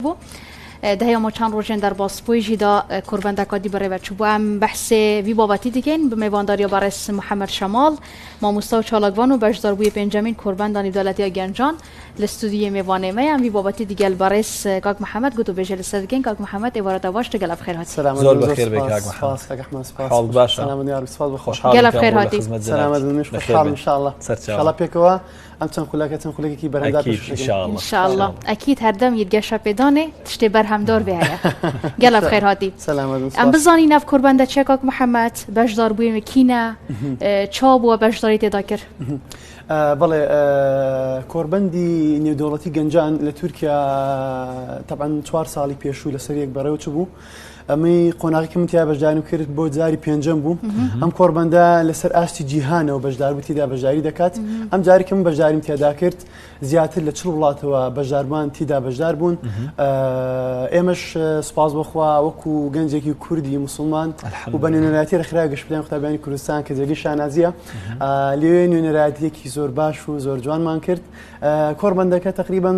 بو دە یە مۆ چان روژێن دە رباس پوی ژی دا کوربە ندە کادی بە رێبە چو بو ئەم بە حسێ وی بابەتی دکەین بە مێوان داریا بە رێز محمد شەماڵ ماموستا و چالاک وان و بەش دار بوی پێن جە مین کوربە ندانی دالەتیا گە نجان لە ستودیو یە مێوانێ مە یە ئەم وی بابەتی دگە لبە رێز کاک محمد گوت و بێژە لە سە دکەین کاک محمد ئێ وارە دە باش دگە لە بخێر هاتی. زۆر بە خێر بێی کاک محمد حاڵت باشە؟ خۆشحاڵم کە وە لە خزمەت جەنابت بخێر هاتی. سەرچاوە. ئەم چەند خولەکە چەند خولەکێکی بەرەنگار ئەکید پێشکەش دەکەین. ان شاء الله. انشاءاللە ئەکید هەردەم یت گەشە پێدانێ تشتێ بەرهەم دار بێ هەیە گەلە بخێر هاتی سەلامەت بن، ئەم سوپاس. بزانی ناڤ کوربەندە چیە کاک محمد بەشدار بووێ وێ کینە اه، چا بووە بەشداری تێدا کرد؟ ئا، بەڵێ، ئا، کۆربەندی نێودەوڵەتی گەنجان لە تورکیا، ئا، تەبعەن چوار ساڵی پێشوو لەسەریەک بەڕێوە چبوو، ئەمەی قۆناغیکە من تیا بەشداریم کرد بۆ جاری پێنجەم بوو ئەم کۆربەندە لەسەر ئاستی جیهانەوە بەشدار بوو تیدا بەشداری دەکات ئەم جاریکە من بەشداریم تێدا کرد زیاتر لە چ وڵاتەوە بەشداربان تیدا بەشدار بوون ئێمەش سپاس بخوا وەکو گەنجێکی کوردی مسلمان و بە نوێنەراتی رخرا گشتیان قوتابیانی کوردستان کە جێگەی شانازیە لێ نوێنەراتیەکی زۆر باش و زۆر جوانمان کرد کۆربەندەکە تقریبان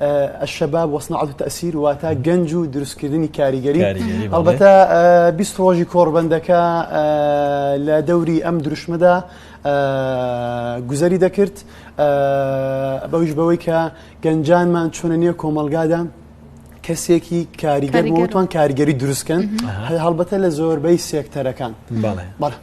الشباب وصناعة التأثير واتا گەنج و دروستکردنی کاریگەری هەڵبەتە بیست ڕۆژی کۆڕبەندەکە لە دەوری ئەم دروشمەدا گوزەری دەکرد بەویش بەوەی کە گەنجانمان چۆنە نییە کۆمەلگادا کەسێکی کاریگەر بۆتوان کاریگەری دروستکەن هەڵبەتە لە زۆربەی سێکتەرەکان بەڵێ.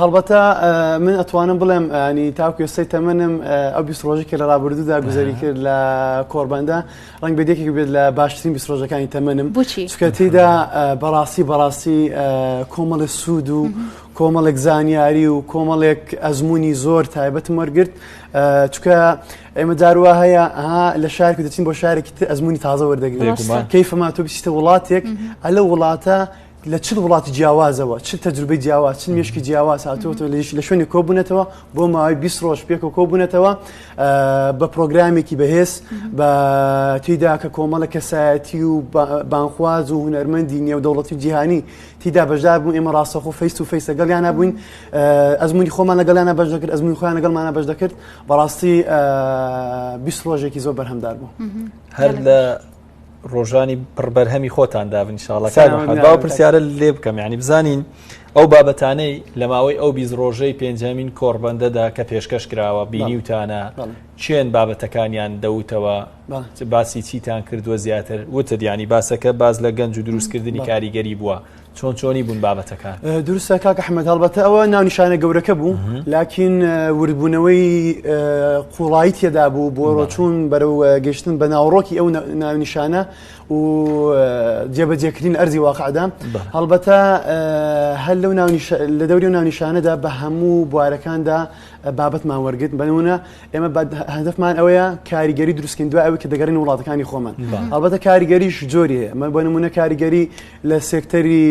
هەڵبەتە من ئەتوانم بڵێم ینی تاکو ئێستای تەمەنم ئەو بیست ڕۆژی کە لە ڕابردوودا گوزەری کرد لە کۆربەندە ڕنگ بێدێکی بێت لە باشترین بیست ڕۆژەکانی تەمەنم بچی چکە تێدا بەڕاستی بەڕاستی کۆمەڵە سوود و کۆمەڵێک زانیاری و کۆمەڵێک ئەزمموی زۆر تایبەتم وەرگرت چکە ئێمە جاروا هەیە لە شارێک دەچین بۆ شارێکی ئەزمموی تازە وەردەگرێت کەیفما تو بچیتە وڵاتێک ئەلە وڵاتە لە چ وڵاتی جیاوازەوە چ تەجروبەی جیاواز چ مشکی جیاواز هاتووەەوە لەش لە شوێنی کۆبوونەتەوە بۆ ماوەی 20 ڕۆژ پێکەوە کۆبوونەتەوە بە پرۆگرامێکی بەهێز بە تیدا کە کۆمەڵە کەسایەتی و بانخواز و هوەرمەندی نێودەوڵەتی جیهانی تیدا بەشدار بوو ئێمە ڕاستەخۆ فیس و فیسە گەڵیانە بووین ئەزمموی خۆمان لەگەڵیانە بەش دەکرد ئەزمموی خۆیان لەگەڵمانە بەش دەکرد بەڕاستی 20 ڕۆژێکی زۆر بەرهەمدار بوو هەر لە ڕۆژانی پڕبەرهەمی خۆتان دابن شڵەکە پرسیارە لێ بکەم ینی بزانین ئەو بابەتانەی لە ماوەی ئەو بیز ڕۆژەی پێنجەمین کۆڕبندەدا کە پێشکەش کراوە بینیوتانە چێن بابەتەکانیان دەوتەوە باسی چیتان کردووە زیاتر وتت ینی باسەکە باز لە گەنج و دروستکردنی کاریگەری بووە چۆن چۆنی بوون بابەتەکان دروستە کاک حمد هەڵبەتە ئەوە ناونیشانە گەورەکە بوو لاکین وردبوونەوەی قوڵایی تێدا بوو بۆ ڕۆچوون بەرەو گەشتن بە ناوڕۆکی ئەو ناونیشانە و جێبەجێکردین ئەرزی واقعدا هەڵبەتە هەر لەو لە دەوری و ناونیشانەدا بە هەموو بوارەکاندا بابەتمان وەرگرت بەنمونە ئێمە هەدفمان ئەوەیە کاریگەری دروستکەین دوای ئەوەی کە دەگەرین وڵاتەکانی خۆمان هەڵبەتە کاریگەریش جۆری ئەمە بۆ نمونە کاریگەری لە سێکتەری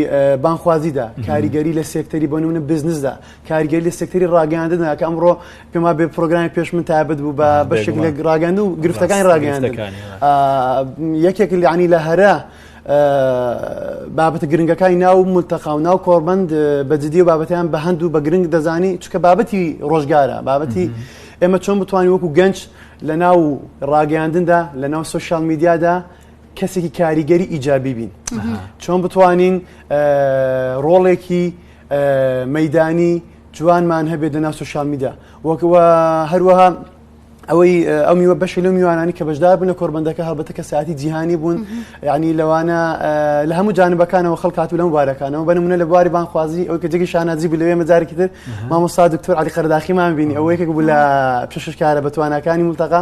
بانخوازیدا کاریگەری لە سێکتەری بۆ نمونە بزنسدا کاریگەری لە سێکتەری ڕاگەاندندا کە ئەمڕۆ پێما بێ پرۆگرامی پێش من تابەت بوو بە بەشێک لە ڕاگەند و گرفتەکانی ڕاگەاند یەکێک لەعنی لە هەرە بابەتە گرنگەکانی ناو ملتەقا و ناو کۆربند بە جددی و بابەتیان بە هەند و بە گرنگ دەزانی چکە بابەتی ڕۆژگارە بابەتی ئێمە چۆن بتوانین وەکو گەنج لە ناو ڕاگەاندندا لە ناو سوسیال میدیادا کەسێکی کاریگەری ئیجابی بین چۆن بتوانین ڕۆڵێکی مەدانی جوانمان هەبێت دە ناس و شامیدا وەکەوە هەروەها ئەوەی ئەو میوە بەشی لە میوانانی کە بەشدار بوون لە کۆربندەکە هەڵبەتە کە ساعتی جیهانی بوون ینی لەوانە لە هەموو جانبەکانەوە خەڵکات و لەم بارەکانەوە بنمونە لە بواری بانخوازی ئەو کە جگی شانازی بلێ مەجارێکی تر مامۆستا دکتۆر علی قەرداخیمان بینی ئەوەیەکێک بوو لە پێششکارە بەتوانەکانی ملتەقا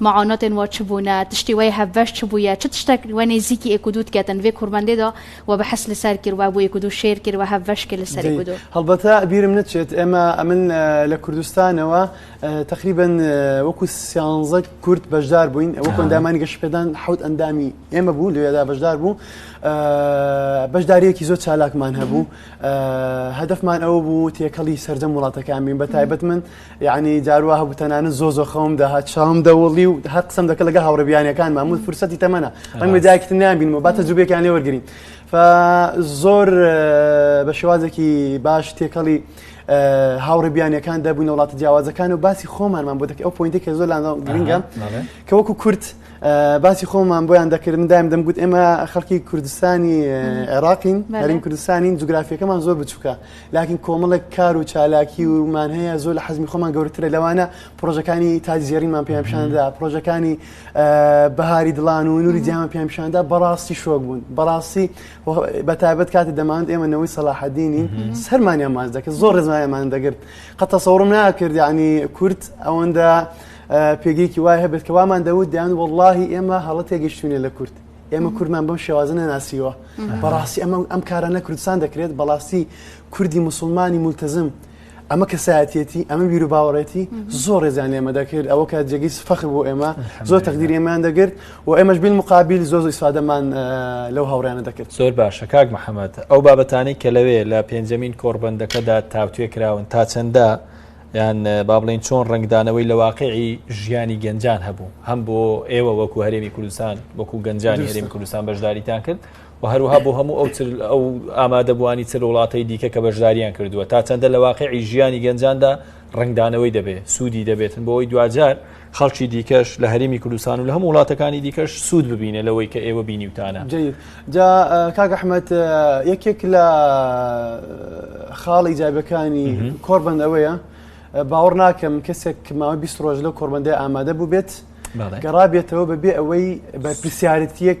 معاناتێن وا چ بوونە، تشتێ وەی هەڤەش چ بوویە، چ تشتەک وە نێزیکی ئێک و دوو دکەتن، ڤێ کورمەندێ دا وە بەحس لە سەر کرد، وە بۆ ئێک و دوو شێر کرد، وە هەڤەش کرد لە سەر ئێک و دوو. هەڵبەتە بیرم نەچێت ئێمە ئەمن لە کوردستانەوە تەقریبەن وەکوو سیانزە کورد بەشدار بووین، وەکوو ئەندامانی گەشەپێدان حەوت ئەندامی ئێمە بوو لێ دا بەشدار بوو، بەشدارییەکی زۆر چالاکمان هەبوو، هەدەفمان ئەوە بوو تێکەڵی سەرجەم وڵاتەکان بین، بە تایبەت من یەعنی جار وا هەبوو تەنانەت زۆر زۆر خەوم دەهات چاوم دەوڵی و هەر قسەم دەکە لەگە هاوڕێ بیانیەکان مامود فرسەتی تەمەە ڕەنگە جاکتن نامبینەوە با تەجوبێکیان لێ وەرگین زۆر بە شێوازێکی باش تێکەڵی هاوڕێ بیانیەکان دەبوون وڵاتە جیاوازەکان و باسی خۆمانمان بۆ دەکە ئەو پوینتی کە زۆر لانداڵ گرنگە کە وەکو کورت باسی خۆمان بۆیان دەکرد من دایم دەمگوت ئێمە خەڵکی کوردستانی عێراقین هەرین کوردستانین جوگرافیەکەمان زۆر بچووکە لاکن کۆمەڵێک کار و چالاکی و مان هەیە زۆر لە حەزمی خۆمان گەورەترە لەوانە پرۆژەکانی تادی زێڕینمان پێیان پیشاندا پرۆژەکانی بەهاری دڵان و نوری جیامان پێیان پیشاندا بەڕاستی شۆک بوون بەڕاستی بە تایبەت کاتی دەماند ئێمە نەوەی سەلاحەدینین سەرمانیان ماز دەکرد زۆر ڕێزمایەمان دەگرت قە تەسەوڕم ناکرد ینی کورد ئەوەندە پێگەیەکی وای هەبێت کە وامان دەوت دیان واللهی ئێمە هەڵە تێگەشتوینە لە کورد ئێمە کوردمان بەم شێوازە نەناسیوە بەڕاستی ئەمە ئەم کارە لە کوردستان دەکرێت بەڵاستی کوردی مسلمانی ملتزم ئەمە کەسایەتێتی ئەمە بیر و باوەڕێتی زۆر ڕێزان لێمە دەکرد ئەوە کە جێگەی فەخر بۆ ئێمە زۆر تەقدیر ئێمان دەگرت و ئێمەش بین مقابل زۆر زۆر سادەمان لەو هاوڕیانە دەکرد زۆر باشە کاک محەممەد ئەو بابەتانی کە لەوێ لە پێنجەمین کۆڕبندەکەدا تاوتێ کراون تا چەندە یان با بڵێین چۆن ڕەنگدانەوەی لە واقعی ژیانی گەنجان هەبوو هەم بۆ ئێوە وەکو هەرێمی کوردستان وەکو گەنجانی هەرێمی کوردستان بەشداریتان کرد و هەروها بۆ هەموو ئەو ئەو ئامادەبووانی چر وڵاتەی دیکە کە بەشداریان کردووە تا چەندە لە واقعی ژیانی گەنجاندا ڕنگدانەوەی دەبێت سوودی دەبێتن بۆ ئەوی دوجار خەڵکی دیکەش لە هەرمی کوردستان و لە هەموو وڵاتەکانی دیکەش سوود ببینێ لەوەی کە ئێوە بینیوتانە جا کاک ئەحمد یەکێک لە خاڵی جابەکانی کۆربند ئەوەیە باوەڕ ناکەم کەسێک ماوە 20 ڕۆژ لە کۆربندی ئامادە بوو بێت گەڕابێتەوە بەبێ ئەوەی بەرپسیارەتیەک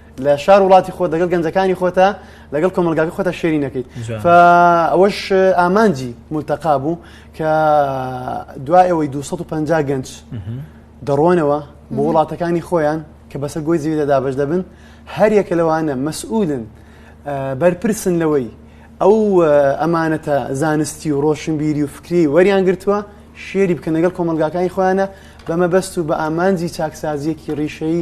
لە شار وڵاتی خۆ دەگەڵ گەنجەکانی خۆتە لەگەڵ کۆمەلگاکە خۆتە شێری نەکەیت ئەوەش ئامانجی ملتەقا بوو کە دوایەوەی 250 گەنج دەڕۆنەوە بۆ وڵاتەکانی خۆیان کە بەسەر گۆی زیویدا دابش دەبن هەر یەکە لەوانە مەسئولن بەرپرسن لەوەی ئەو ئەمانەتە زانستی و ڕۆشنبیری و فکری وەریان گرتووە شێری بکەن لەگەڵ کۆمەلگاکانی خۆیانە بەمەبەست و بە ئامانجی چاکسازیەکی ڕیشەی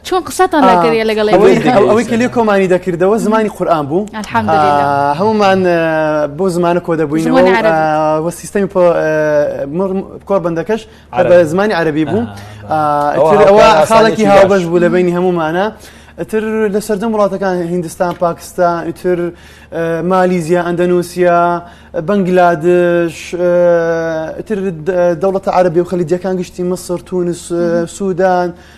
چۆن قسەتان لەگەریە لەگەڵ ئەوەی کە لێ کۆمانی دەکردەوە زمانی قورآان بوو هەمومان بۆ زمانە کۆ دەبووینەوە و سیستەمی کۆر بەندەکەش بە زمانی عەربی بوو ئەوە خاڵێکی هاوبەش بوو لە بینی هەمومانە. ئەتر لە سەردەم وڵاتەکان هندستان پاکستان ئیتر مالیزیا ئەندەنووسیا بەنگلادش ئیتر دەوڵەتە عربی و خەلیجەکان گشتی مسر تونس سوودان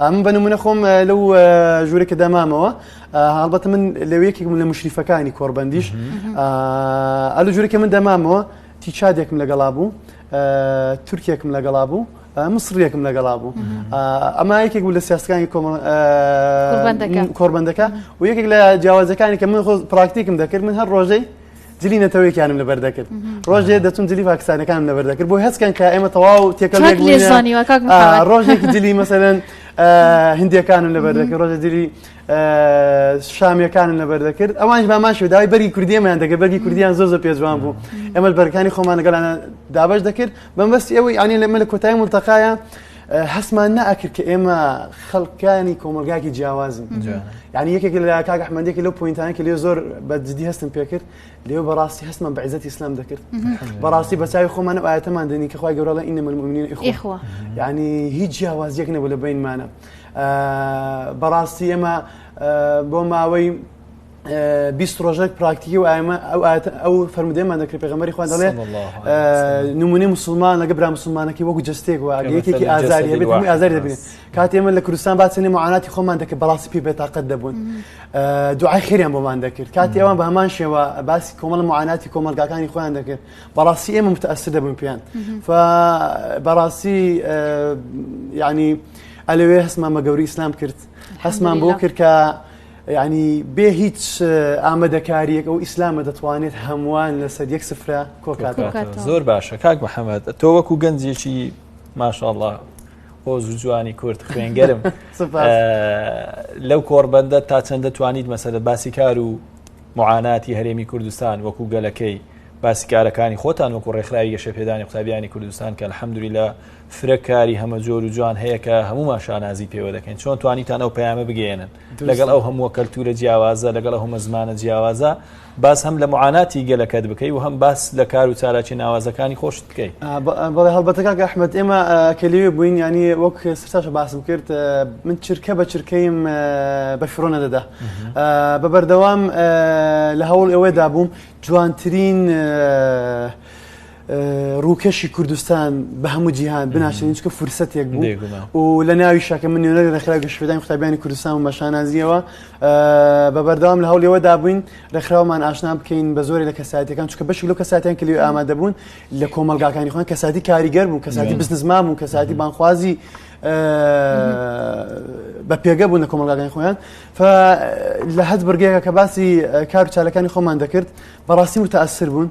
من بە نمونە خۆم لەو ژوورە کە دامامەوە هەڵبەتە من لەو یەکێکم لە مشریفەکانی کۆربەندیش ئەل ژوورەکە من دەمامەوە تیچادێکم لەگەڵا بوو تورکێکم لەگەڵا بوو مسڕیەکم لەگەڵا بوو ئەما یەکێک بوو لە سیاسەکانی کۆربەندەکە و یەکێک لە جیاوازەکانی کە من خۆ پراکتیکم دەکرد من هەر ڕۆژەی جلی نەتەوەیەکیانم لەبەر دەکرد ڕۆژێ دەچون جلی پاکستانەکانم لەبەر دەکرد بۆ هەستکەن کە ئێمە تەواو تێکەڵ ڕۆژێکی جلی مەسەرەن هندیەکانم لەبەر دەکرد ڕۆژە جلی شامیەکانم لەبەر دەکرد ئەوانش بامان شداوای بەری کوردیەمان دەگە بەری کوردیان زۆ زۆ پێجوان بوو ئەمە بەرکانی خۆمان لەگەڵانە دابش دەکرد بەمبەست ئەوەی ئەنی لەمە لە کۆتای ملتەقاە هەستمان ناکرد کە ئێمە خەڵکانی کۆمەلگاکی جیاوازن ینی یەکێک لە کاک ئەحمەندێکی لەو پوینتانە کە لێ زۆر بە جددی هەستم پێکرد لێو بەڕاستی هەستمان بە عزت ئسلام دەکرد بەڕاستی بەچوی خۆمان و ئاەتەمان دەنی کە خخوای گەورەڵە ئینە ملمونین ئیخوە ینی هیچ جیاوازیەک نەبوو لە بینمانە بەڕاستی ئێمە بۆ ماوەی بیست ڕۆژێک پراکتیکی و ئەمە ئەو ئەو فەرمودێمان دەکرێت پێغمەری خوا دەڵێ نمونی مسلمان لەگە برا مسلمانەکە وەکو جستێک و یەکێکی ئازاری هەبێت هەمووی ئازاری دەبێت کات ئێمە لە کوردستان باسێنێ معاناتی خۆمان دەکە بەڵاستی پێ بێتاقەت دەبوون دوعای خێریان بۆمان دەکرد کاتی ئەوان بە هەمان شێوە باسی کۆمەڵ معاناتی کۆمەلگاکانی خۆیان دەکرد بەڵاستی ئێمە متەسر دەبوون پێیان بەڕاستی ینی ئەلوێ هەستمان بە گەوری ئیسلام کرد هەستمان بۆ کرد کە یەعنی بێ هیچ ئامادەکاریەک ئەو ئیسلامە دەتوانێت هەمووان لەسەر یەک سفرە کۆکات زۆر باشە کاک محەممەد تۆ وەکو گەنجێکی ماشاءله هۆز و جوانی کورد خوێنگەرم لەو کۆڕبەندە تا چەندە توانیت مەسەدە باسی کار و معاناتی هەرێمی کوردستان وەکو گەلەکەی باسیکارەکانی خۆتان وەکو ڕێکخراوی گەشە پێدانی قوتابیانی کوردستان کە حەمدوری لە فرەکاری هەمە جۆر و جوان هەیە کە هەمومان شانازی پێوە دەکەین چۆن توانیتان ئەو پەیامە بگەێنن لەگەڵ ئەو هەمووە کەلتورە جیاوازە لەگەڵ هەمە زمانە جیاوازە باز هەم لە معاناتی گەلەکەت بکەی و هەم باس لە کار و چالاکی ناوازەکانی خۆشت بکەیت بەڵێ هەڵبەتەکە ئەحمد ئێمە کەلیوێ بووین ینی وەک سرتاش باس بکرد من چرکە بە چرکەیم بە شڕۆ نەدەدا بە بەردەوام لە هەوڵ ئەوەدا بووم جوانترین ڕووکەشی کوردستان بە هەموو جیهان بناسێنین چکە فرسەتێک بوو و لە ناوی شەکە من نوێنەری ڕێکخراوی گەشتپێدانی قوتابیانی کوردستان و مەشانازیەوە بە بەردەوام لە هەوڵەوە دابووین ڕێکخراومان ئاشنا بکەین بە زۆری لە کەساتەکان چکە بەشی لەو کەساتیان کلی ئامادە بوون لە کۆمەلگاکانی خۆن کەساتی کاریگەر بوو کەساتی بزنزمان بوو کەساتی بانخوازی بە پێگە بوون لە کۆمەلگاکانی خۆیان لە هەز بڕگەیە کە باسی کار چالەکانی خۆمان دەکرد بەڕاستی متاثر بوون.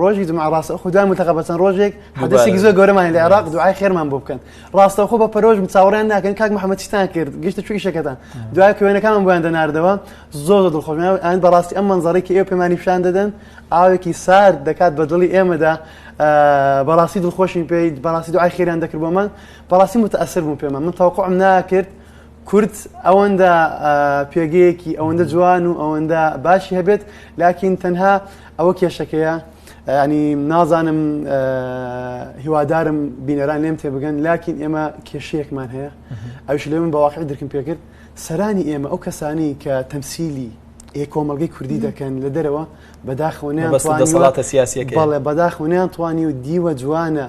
ڕۆژی جمعە ڕاستە خو دوای ملتەقە بە چەند ڕۆژێک حدەسێکی زۆر گەورەمان لە عێراق دوعای خێرمان بۆ بکەن ڕاستە خۆ بە پەرۆژ چاوەڕیان ناکەن کاک محەممەد چیتان کرد گشتە چوی شەکەتان دوای کوێنەکانم بۆیان دەناردەوە زۆر زۆر دڵخۆشمان ئەن بەڕاستی ئەم منزەڕێکی ئێوە پێمانی پیشان دەدەن ئاوێکی سارد دەکات بە دڵی ئێمەدا بەڕاستی دڵخۆشین پێیت بەڕاستی دوعای خێران دەکرد بۆ من بەڕاستی متەسر بوو پێمە من تاوقعم ناکرد کورد ئەوەندە پێگەیەکی ئەوەندە جوان و ئەوەندە باشی هەبێت لاکین تەنها ئەوە کێشەکەیە ینی نازانم هیوادارم بینەران لێم تێ بگەن لاکین ئێمە کێشەیەکمان هەیە ئەوش لێ من بەواقع درکم پێکرد سەرانی ئێمە ئەو کەسانی کە تەمسیلی ئێ کۆمەلگەی کوردی دەکەن لە دەرەوە بەداخەوەنیان سیاسەکە بەڵێ بەداخەوەنیان توانی و دیوە جوانە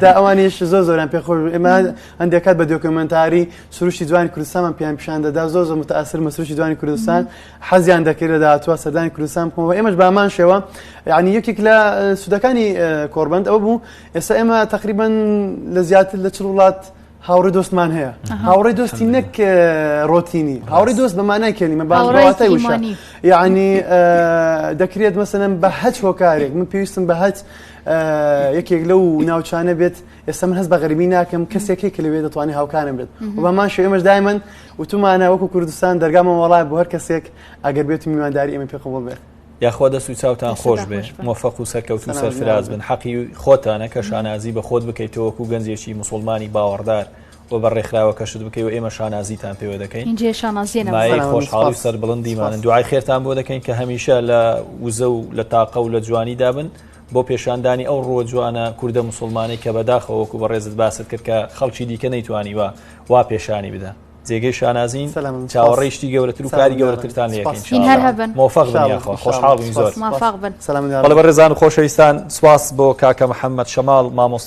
تا ئەوانیش زۆر زۆران پێ خۆش ئێمە هەندێک کات بە دۆکمنتاری سروشی جوانی کوردستانمان پێیان پیشان دەدا زۆر زۆر متاثر مە سروشی جوانی کوردستان حەزیان دەکرد لە داهاتوە سەردانی کوردستان بکەمەوە ئێمەش بامان شێوە یعنی یەکێک لە سوودەکانی کۆربند ئەو بوو ئێستا ئێمە تقریبان لە زیاتر لە چ وڵات هاوڕێ دۆستمان هەیە هاوڕێ دۆستی نەک ڕۆتینی هاوڕێ دۆست بەمانای کەلیمە باڕاتای وشانی یعنی دەکرێت مەسەن بە هەچ هۆکارێک من پێویستم بە هەچ یەکێک لەو ناوچانە بێت ئێستا من هەست بە غەربی ناکەم کەسێکی کە لەوێ دەتوانانی هاوکانم بێت بەمان شو ئێمەش دایمەن وتومانە وەکو کوردستان دەرگامە وڵای بۆ هەر کەسێک ئەگەر بێت میوانداری ئەمە پێ قوڵ بێت یاخوا دەست و چاوتان خۆش بێ مۆفەق و سەرکەوت و سەرفراز بن حەقی خۆتانە کە شانازی بە خۆت بکەیتەوەکو گەنجێکی مسلمانی باوەڕدار و بە ڕێکخراوە کەشت بکەی و ئێمە شانازیتان پێوە دەکەین خۆشحاڵی سەر بڵندیمانن دوعای خێرتان بۆ دەکەین کە هەمیشە لە وزە و لە تاقە و لە جوانی دابن بۆ پێشاندانی ئەو ڕۆ جوانە کووردە مسلمانەی کە بەداخەوەکو بە ڕێزت باست کرد کە خەڵکی دیکە نەیتوانی وە وا پێشانی بدە. جێگەی شانازین چاوەڕێی شتی گەورەتر و کاری گەورەترتان لەخۆشحاڵین زۆر بەڵێ بەڕێزان خۆشەویستان سواس بۆ کاکە محەممەد شەماڵ مامۆستا